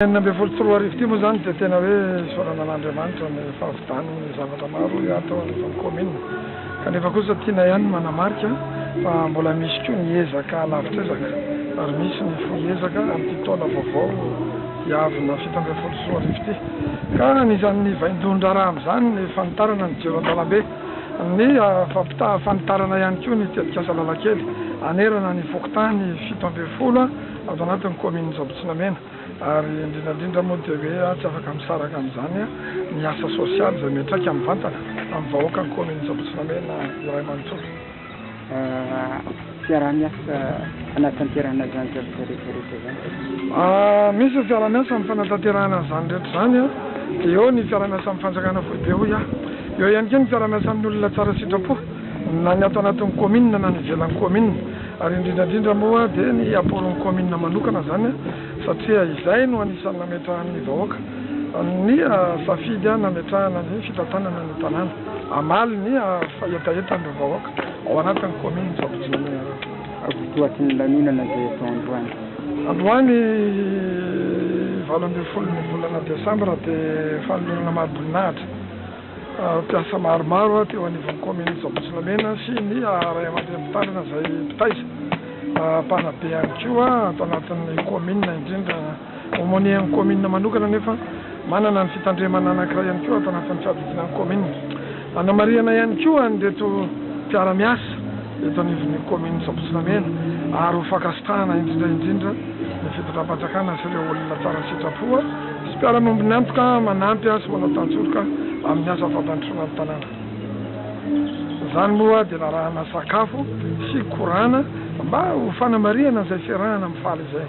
enina ambin'ny folo sy roa arivo ity moa izany dia tena hoe isaorana an'Andriamanitra ny fahavitan'ny zavatra maro hatao eto amin'ny kaominina. Kanefa kosa tiana ihany ny manamarika fa mbola misy koa ny ezaka lavitra ezaka ary misy ny fohy ezaka amin'ity taona vaovao hiavina fito ambin'ny folo sy roa arivo ity. Ka anisan'ny vaindohan-draharaha amin'izany ny fanitarana ny jiro an-dalambe. Ny fampitaha fanitarana ihany koa ny tetikasa Lalan-kely hanerana ny fokontany fito ambin'ny folo ato anatin'ny kaominin'i Jabotsinamena. Ary indrindra indrindra moa dia hoe aho tsy afaka misaraka amin'izany ny asa sosialy izay miantraika mivantana amin'ny vahoakan'ny kaominina Antsabotsonamena iray manontolo. Fiaraha-miasa hanatanterahana izany zavatra rehetra rehetra izany? Misy ny fiaraha-miasa amin'ny fanatanterahana an'izany rehetra izany, dia eo ny fiaraha-miasa amin'ny fanjakana foibe hoy aho. Eo ihany koa ny fiaraha-miasa amin'ny olona tsara sitrapo. na ny ato anatin'ny kaominina na ny ivelan'ny kaominina ary indrindra indrindra moa dia ny aporon'ny kaominina manokana izany satria izay no anisan'ny nametrahan'ny vahoaka ny safidy nametrahana ny fitantanana ny tanàna hamaly ny hetahetan'ireo vahoaka ao anatin'ny kaominina Sabotsy-Mananjara. Votoaty ny lanonana izay atao androany. Androany valo ambin'ny folo ny volana desambra dia fanolorana mariboninahitra. Mpiasa maromaro teo anivon'ny kaominin'i Zambotsolamena sy ny Ray aman-dReny Mpitandrina izay mpitaiza mpanabe ihany koa ato anatin'ny kaominina indrindra. Aumônier-n'ny kaominina manokana anefa manana ny fitandremana anankiray ihany koa ato anatin'ny fiadidiana ny kaominina. Anamarihana ihany koa an'ireto mpiara-miasa eto anivon'ny kaominin'i Zambotsolamena ary ho fankasitrahana indrindra indrindra ny fitondram-panjakana sy ireo olona tsara sitrapo Misy mpiara-monina miantoka manampy sy manao tantsoroka amin'ny asa fampandrosoana ny tanàna. Izany moa dia narahana sakafo sy korana mba ho fanamarihana izay fiarahana amin'ny faly izay.